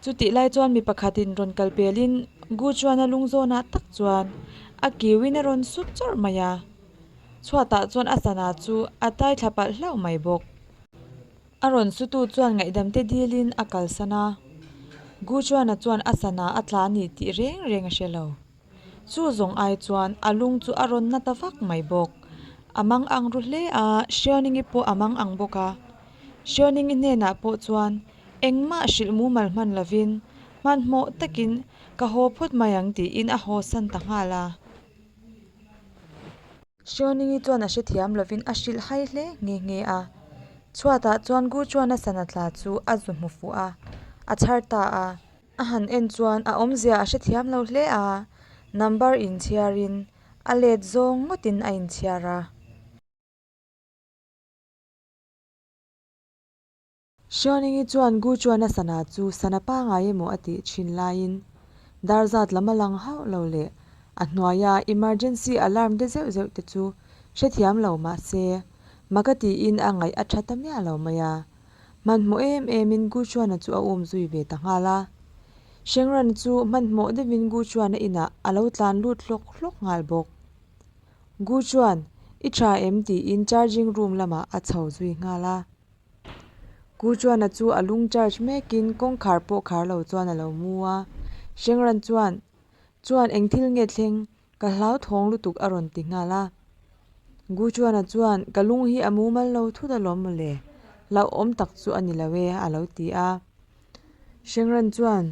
Chutih lai chuan mi pakhat in rawn kal pel in Gu Chuan a lung zawn ah tak chuan a kiu in a rawn sut chawrh mai a, chhuat ah chuan a sana chu a tai thlap alh hlauh mai bawk. A rawn sutu chuan ngaihdamte dilin a kalsan a, Gu Chuana chuan a sana a tla a ni tih reng reng a hre lo. Chu zawng ai chuan a lung chu a rawn na ta vak mai bawk. A mang ang ru hle a, Hriauningii pawh a mang ang bawk a. Hriauningii hnenah pawh chuan engmah hrilh mumal hman lovin hmanhmawh takin ka haw phawt mai ang tiin a hawsan ta nghal a. Hriawningii chuan a hrethiam lovin a hrilh hai hle nghe nghe a. Chhuatah chuan Guchuana sana tla chu a zu hmu fuh a, a chhar ta a. A han en chuan a awmzia a hrethiam lo hle a, number inchhiarin a let zawng ngawtin a inchhiar a. Hriaunengi chuan Guchuana sana chu sana pangai emaw a tih thin laiin dar zat lam a lang hauh lo leh a hnuaia emergency alarm te zeuh zeuh te chu hrethiam lo mahse maka tiin a ngaih a tha ta miah lo mai a. Hmanhmawh em emin Guchuana chu a um zui ve ta nghal a. Hrengran chu hmanhmawh deuhin Guchuana inah a lo tlan lut hlawk hlawk nghal bawk. Guchuan, I tha em? tiin charging room lamah a chho zui nghal a. Ku Chuana chu a lung charge mekin kawngkhar pawh khar lo chuan a lo mu a. Hrengran chuan, Chuan eng thil nge thleng, ka hlauthawng lutuk a rawn ti nghal a. Ku Chuana chuan, Ka lung hi a mumal lo thut alawm maw le, hlauh awm tak chu a ni lo e, a lo ti a. Hrengran chuan,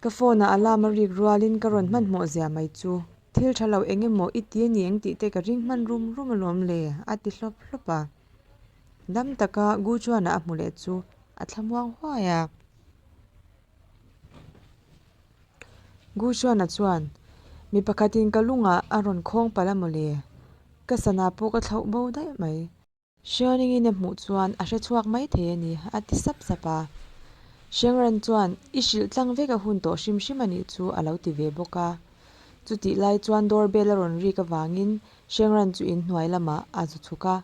Ka phone a alarm a rik rualin ka rawn hmanhmawh zia mai chu, thil tha lo eng emaw i ti a ni engtih te ka ring hman rum rum alawm le, a ti hlawp hlawp a. Dam taka Gu chuan a hmu leh chu a thlamuang huai a. Gu chuana chuan, Mi pakhatin ka lungah a rawn khawng palh a mawle, ka sana pawh ka thlauh bo daih mai. Hrianingin a hmuh chuan a hre chhuak mai thei a ni, a ti sap sap a. Hriangran chuan, I hrilh tlang vek a hun tawh hrim hrim a nih chu a lo ti ve bawk a. Chutih lai chuan doorbell a rawn rik avangin Hriangran chu in hnuai lamah a zu chhuk a.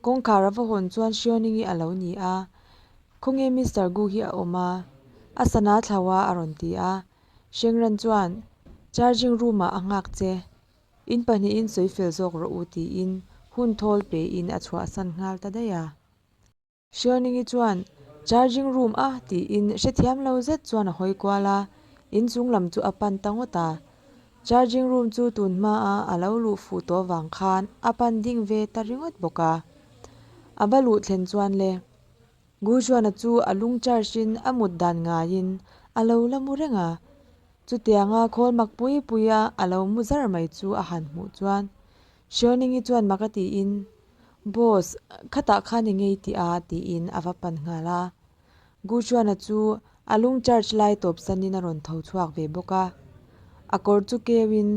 Kawngkhar a va hawn chuan Hriaoning i a lo ni a, Khawnge Mister Gu hi a awm a? a sana thlau a a rawn ti a. Hriangran chuan, Charging room-ah a nghak che, in pahnihin sawi fel zawk rawh u tiin hun thawl pein a chhuahsan nghal ta daih a. Hrialningi chuan Charging room a tiin hrethiam lo zet chuan a hawi kual a, inchung lam chu a pan ta ngawt a. Charging room chu tun hmaa a lo luh fuh tawh vang khan a pan ding ve ta ringawt bawk a. A va luh thlen chuan le. Guchuana chu a lung charge in a mut dan ngaiin a lo la mu reng a. Chutianga khawl mak pui puia a lo mu zar mai chu a han hmuh chuan Cherning-i chuan mak a tiin, Boss, khatah khan i ngei tih a, tiin a va pan nghal a. Guchuana chu a lung charge lai tawp sanin a rawn tho chhuak ve bawk a, a kawr chu keuin,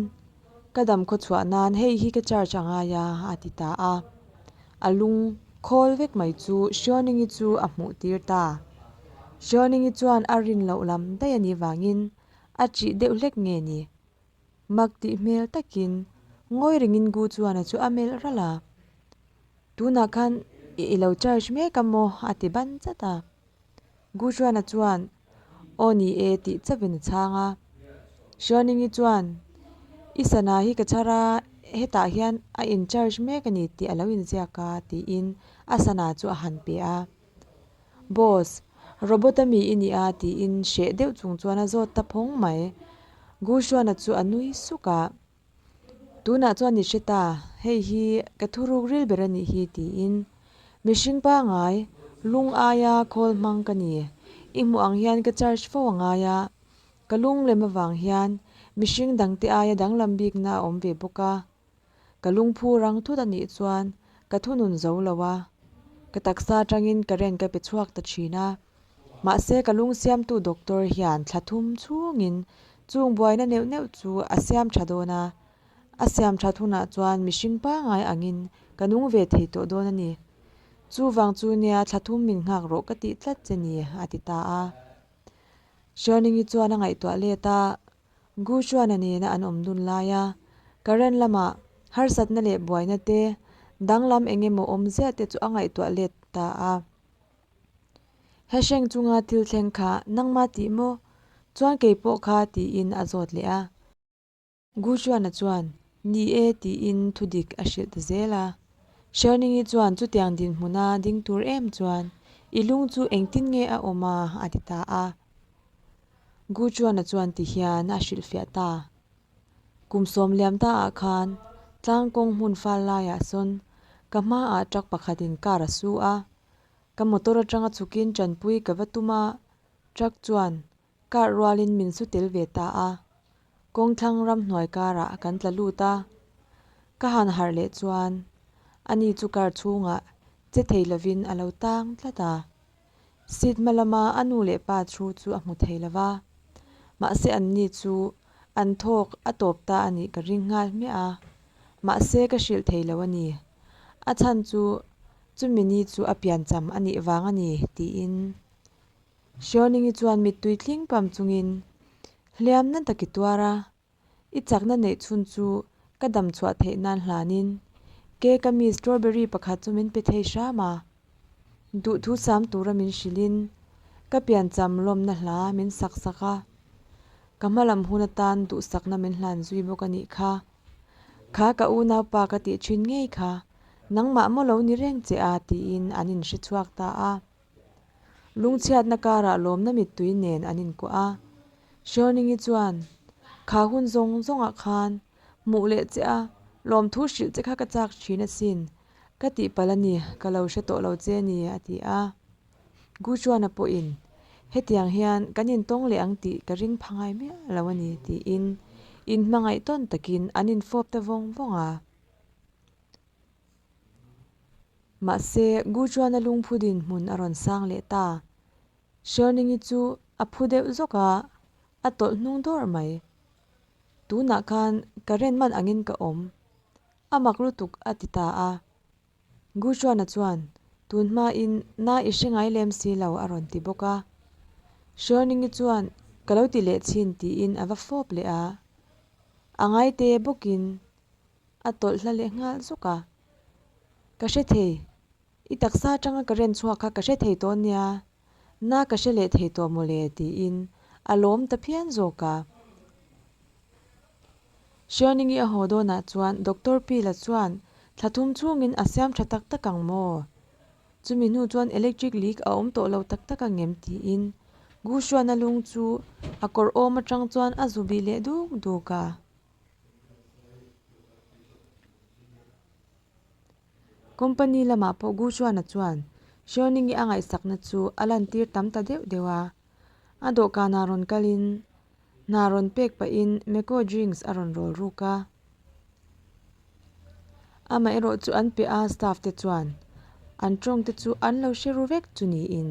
Ka dam khaw chhuah nan hei hi ka charge a ngai a, a ti ta a. A lung khawl vek mai chu Cherning-i chu a hmuh tir ta. Cherning-i chuan a rin loh lam daih a nih vangin, A chih deuh hlek nge ni? Mak tih hmel takin ngawi rengin gu chuan chu a melh ral a, tunah khan i ilo charge mek a maw a ti ban chat a, gu Hruana chuan aw ni e tih chauin a chhang a, Hrianingi chuan i sana hi ka chhar a hetah hian a in charge mek a ni tih a lo inziak a tiin a sana chu a han pe a. Boss, Robot a mi i ni a, tiin hreh deuh chung chuan a zawt ta phawng mai. Guhruana chu a nui suk a, tunah chuan ni hre ta, hei hi ka thuruk ril ber a nih hi, tiin mihring pangai lung aia call hmang ka ni. I hmuh ang hian ka charge fo a ngai a, ka lunglem avang hian mihring dangte aia danglam bikna a awm ve bawk a, Ka lungphu rang thut a nih chuan ka thunun zo lo a, ka taksa atangin ka ren ka pe chhuak ta thin a. Mahse ka lung siamtu doctor hian thla thum chungin chung buaina neuh neuh chu a siam tha dawn a, a siam that hunah chuan mihring pangai angin ka nung ve thei tawh dawn a ni. Chuvang chu nia thla thum min nghak rawh ka tih tlat che ni, a ti ta a. Sherning-i chuan a ngaihtuah let a, Gu chuan a nena an awm dun lai a, Karen lama harsatna leh buaina te, danglam eng emaw awm ziah te chu a ngaihtuah let ta a. He hreng chunga thil thleng kha nangma tih maw? Chuan kei pawh kha tiin a zawt leh a. Gu chuana chuan, Ni e tiin thu dik a hrilh ta zel a. Sherningi chuan chutiang dinhmuna ding tur em chuan, I lung chu engtin nge a awm a? a ti ta a. Gu Chuan-a chuan ti hian a hrilhfiah ta. Kum sawm liam ta ah khan tlang kawng hmun fal lai ah sawn ka hma ah truck pakhat in car a su a, ka motor atang a chhuk in tanpui ka va tum a, truck chuan car rual in min su tel ve ta a, kawng thlang ram hnuai kar ah kan tla lut a. Ka han harh leh chuan ani chu car chhung ah che thei lo in a lo tang tlat a. Sitma lama a nu leh pa thu chu a hmu thei lo va, mahse an ni chu an thawk a tawp ta a nih ka ring nghal hmiah a, mahse ka hrilh thei lo a ni. A chhan chu chumi ni chu a pian cham a nih vang a ni, tiin Hriauningyi chuan mittui tlingpam chungin hliamna tak i tuar a, I chakna neih chhun chu ka dam chhuah theih nan hlanin ke ka mi strawberry pakhat chu min pe thei hram a. Duhthu sam tura min hrilhin ka piancham lawmna hla min sak sak a. Ka hma lam hun atan duhsakna min hlan zui bawk a nih kha. Kha ka unau pa ka tih thin ngei kha, nangmah maw lo ni reng che a tiin an inhre chhuak ta a. Lungchhiatna karah lawmna mittui nen an inkuah a. Hriauningyi chuan, Kha hun zawng zawngah khan hmuh leh che a, lawm thu hrilh che kha ka chak thin asin, ka tih pal a ni, ka lo hre tawh lo che ni, a ti a. Gu Chuana pawhin, Hetiang hian kan intawng leh ang tih ka ring pha ngai miah lo a ni, tiin inhmangaih tawn takin an infawp ta vawng vawng a. Mahse, Guchuana lungphutin hmun a rawn sang leh ta. Sherningi chu a phu deuh zawk a, a tawlh hnung dawr mai. Tunah khan ka ren man angin ka awm. A mak lutuk a ti ta a. Guchuana chuan, Tun hmain na i hre ngai lem si lo a rawn ti bawk a. Sherningi chuan, Ka lo ti leh chin tiin a va fawp leh a. A ngaite bawkin A tawlh hla leh nghal zawk a, Ka hre thei, i taksa atanga ka ren chhuak kha ka hre thei tawh nia, na ka hre leh thei tawh maw le tiin a lawm ta phian zawk a. Hrianingi a haw dawnah chuan Doctor Pi la chuan, Thla thum chungin a siam tha tak tak ang maw? Chumi hnu chuan electric leak a awm tawh lo tak tak a ngem tiin Gu Hruana lung chu a kawr awm atang chuan a zu bih leh duk duk a. Company lamah pawh Gu Chuana chuan Hriauningii a ngaihsakna chu a lantir tam ta deuh deuh a. A dawhkanah rawn kalin, hna rawn pek pahin Mekko Drinks a rawn rawl ruk a. Amaherawhchu an pe a, staff te chuan an tawngte chu an lo hre ru vek chu niin.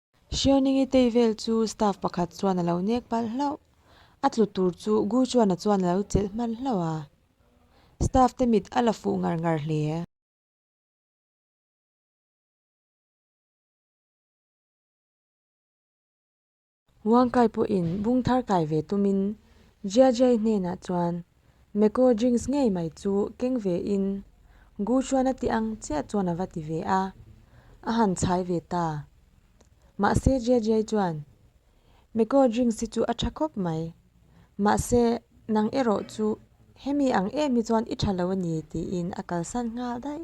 Hriauningii tei vel chu staff pakhat chuan a lo nek palh hlauh. A tlu tur chu Gu Chuana chuan a lo chelh hman hlauh a. Staff te mit a la fuh ngar ngar hle. Wangkai pawhin bungthar kai ve tumin Jiajiai hnenah chuan. Meko drinks ngei mai chu keng ve in Gu chuan a tih ang chiah chuan a va ti ve a, a han chhai ve ta. Mahse Jiajiai chuan, Meko drinks hi chu a tha khawp mai, mahse nang erawh chu hemi ang em hi chuan i tha lo a ni tiin a kalsan nghal daih.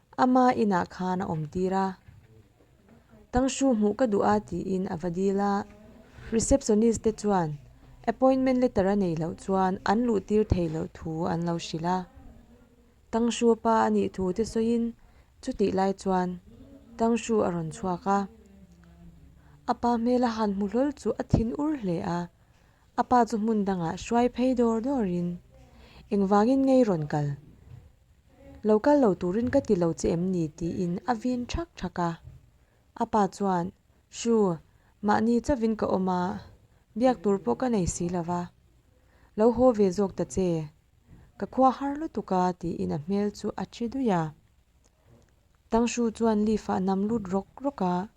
Ama inah khan a awm tir a, Tangshu hmuh ka duh a tiin a va dil a. Receptionist te chuan appointment letter a nei loh chuan an luh tir thei loh thu an lo hrilh a. Tangshu pa a nih thu te sawiin chutih lai chuan Tangshu a rawn chhuak a. A pa hmel a han hmu hlawl chu a thin ur hle a. A pa chu hmun dangah hruai phei dawr dawrin, Engvangin ngei rawn kal? Lo kal lo turin ka ti lo che em ni? tiin a vin ṭhak ṭhak a. A pa chuan, Sure, mahni chavin ka awm a, biak tur pawh ka nei si lo va. Lo haw ve zawk ta che, ka khua har lutuk a, tiin a hmel chu a ṭhi duih a. Tangshu chuan Leaf-a nam lut rawk rawk a,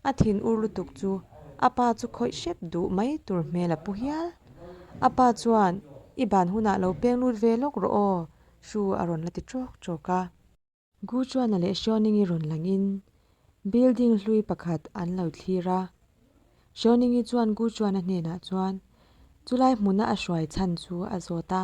a thin ur lutuk chu a pa chu khawih hrep duh mai tur hmel a pu hial. A pa chuan, I ban hunah lo peng lut ve lawk rawh aw, Shu a rawn la ti ṭawk ṭawk a. Gu Chuana leh Xiaoningi rawn langin building hlui pakhat an lo thlir a. Xiaoningi chuan Gu Chuana hnenah chuan chulai hmuna a hruai chhan chu a zawt a.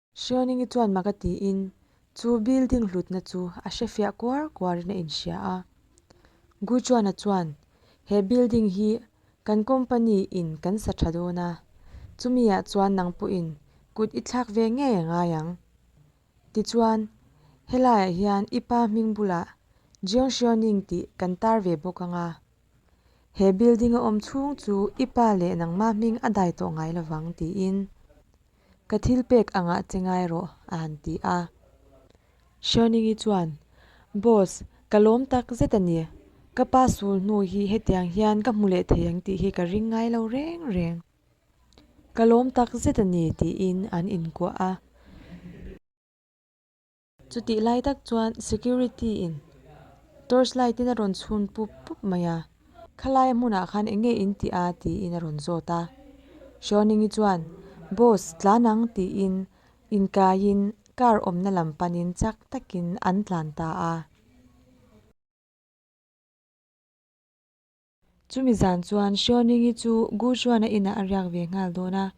Hriauningii chuan maka tiin chu building hlutna chu a hre fiah kuar kuarin a inhria a. Guchuana chuan, He building hi kan company in kan sa tha dawn a, chumi ah chuan nang pawhin kut i thlak ve ngei a ngai ang. Tichuan, helai ah hian i pa hming bulah Jiang Hriauning tih kan tar ve bawk anga, he building a awm chhung chu i pa leh nangma hming a dai tawh ngai lovang, tiin. Ka thil pek angah che ngai rawh, a han ti a. Hriauningyi chuan, Boss, ka lawm tak zet a ni. Ka pa sul hnu hi hetiang hian ka hmu leh thei ang tih hi ka ring ngai lo reng reng. Ka lawm tak zet a ni, tiin an inkuah a. Chutih lai tak chuan security in torch light in a rawn chhun pup pup mai a, khalaia hmunah khan eng nge in tih a tiin a rawn zawt a. Hrawningi chuan Boss tlan ang tiin inkaiin car awmna lam panin chak takin an tlan ta a. Chumi zan chuan Hriauningyi chu Gu Xuana inah a riak ve nghal dawn a.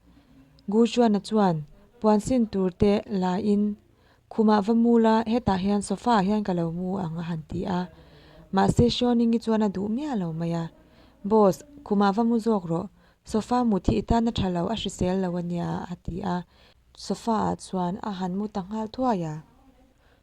Gu Xuana chuan puan sin tur te la in khumah va mul a, hetah hian sofa ah hian ka lo mu ang a han ti a. Mahse Hriauningyi chuan a duh miah lo mai a, Boss, khumah va mu zawk rawh, sofa mut hi i tanna tha lo a hrisel lo a nia a ti a. Sofa ah chuan a han mu ta nghal thuai a,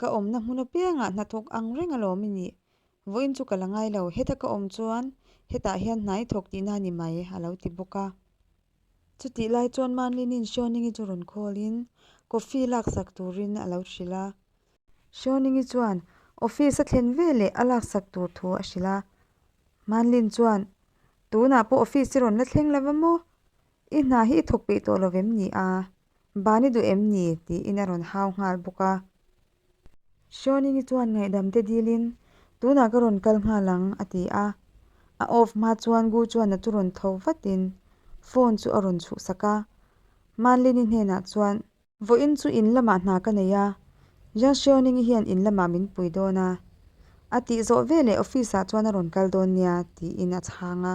Ka awmna hmun apiangah hnathawk ang reng alawm i nih. Vawiin chu ka la ngai lo, heta ka awm chuan hetah hian hna i thawk tihna a ni mai, a lo ti bawk a. Chutih lai chuan Manlinin Hriawningii chu rawn call-in coffee laksak turin a lo hrilh a. Hriawningii chuan office a thlen ve leh a laksak tur thu a hrilh a. Manlin chuan, Tunah pawh office hi rawn la thleng lova maw? I hna hi i thawk peih tawh lovem ni a? Ban i duh em ni? tiin a rawn hau nghal bawk a. Seoningi chuan ngaihdam te dilin, Tunah ka rawn kal nghal ang, a ti a. A off hma chuan Gu chuan a chu rawn tho vatin phone chu a rawn chhuhsak a. Manlini hnenah chuan. Vawiin chu in lamah hna ka nei a, Jiang Seoningi hian in lamah min pui dawn a, a tih zawh veleh office-ah chuan a rawn kal dawn nia, tiin a chhang a.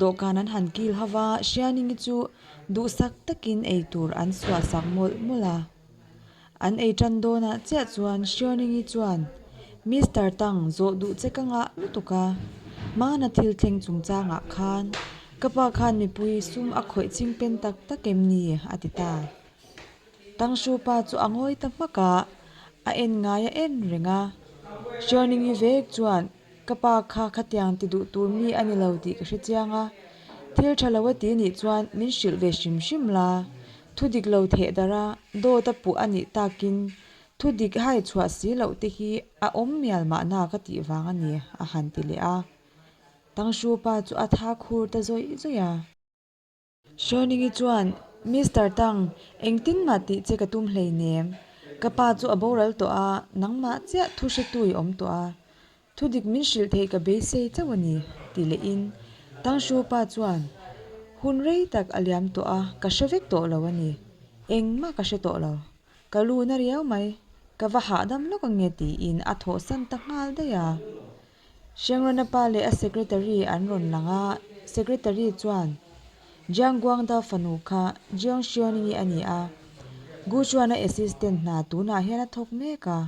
Dawhkan an han kil ho va, Hrianingi chu duhsak takin ei tur an suahsak mawlh mawlh a. An ei tan dawnah chiah chuan Hrianingi chuan, Mister Tang, zawh duh che ka ngah lutuk a, hmana thil thleng chung changah khan ka pa khan mipui sum a khawih ching pen tak tak em ni? a ti ta. Tang Hru pa chu a ngawi ta hmak a, a en ngai a en reng a. Hrianingi vek chuan. Ka pa kha khatiang ti duh tur mi a ni lo tih ka hrechiang a, thil tha lo a ti nih chuan min hrilh ve hrim hrim la. Thudik lo theh darh a, dawt a puh a nih takin thu dik hai chhuah si loh te hi a awm mial mah na ka tih vang a ni, a han ti leh a. Tangshu pa chu a tha khur ta zawih zawih a. Hruainingi chuan, Mister Tang, engtin mah tih che ka tum hleinem. Ka pa chu a boral tawh a, nangmah chiah thu hretu i awm tawh a, thu dik min hrilh theih ka beisei chauh a ni, ti leh in, Tang Hru pa chuan hun rei tak a liam tawh a, ka hre vek tawh lo a ni, engmah ka hre tawh lo, ka lu na riau mai, ka va hahdam lawk ange, ti in a thawhsan ta nghal daih a. Hriangrana pa leh a secretary an rawn lang a, secretary chuan Jiang Guangdao fanu kha Jiang Xuening-i a ni a, Gu Chuana assistant hna tunah hian a thawk mek a,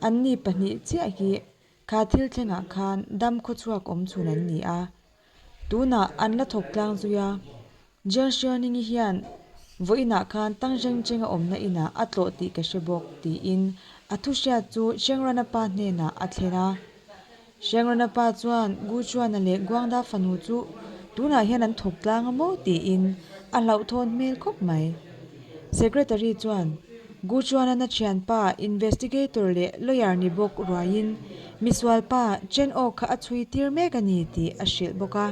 anni pahnih chiah hi kha thil thlengah khan dam khawchhuak awm chhun an ni a, Tunah an la thawk tlang zui a, Jian Xuening-i hian vawi inah khan Tang Zhengchenga awmna inah a tlawh tih ka hre bawk, tiin a thu hriat chu Hrengrana pa hnenah a thlen a. Hrengrana pa chuan Gu Chuana leh Guangda fanu chu tunah hian an thawk tlang a maw tiin a hlauhthawn hmel khawp mai. Secretary chuan Gu Chuanana thianpa investigator leh lawyer ni bawk ruaiin misualpa Chen Aw kha a chhui tir mek a ni tih a hrilh bawk a.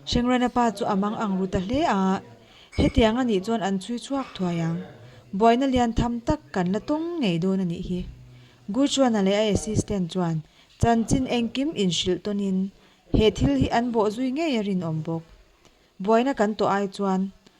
Hrengrana pa chu a mang ang ru ta hle a, hetiang a nih chuan an chhui chhuak thuai ang. Buaina lian tham tak kan la tawng ngei dawn a nih hi. Gu Chuana leh a assistant chuan chanchin engkim inhrilh tawnin he thil hi an bawh zui ngei a rinawm bawk. Buaina kan tawh ai chuan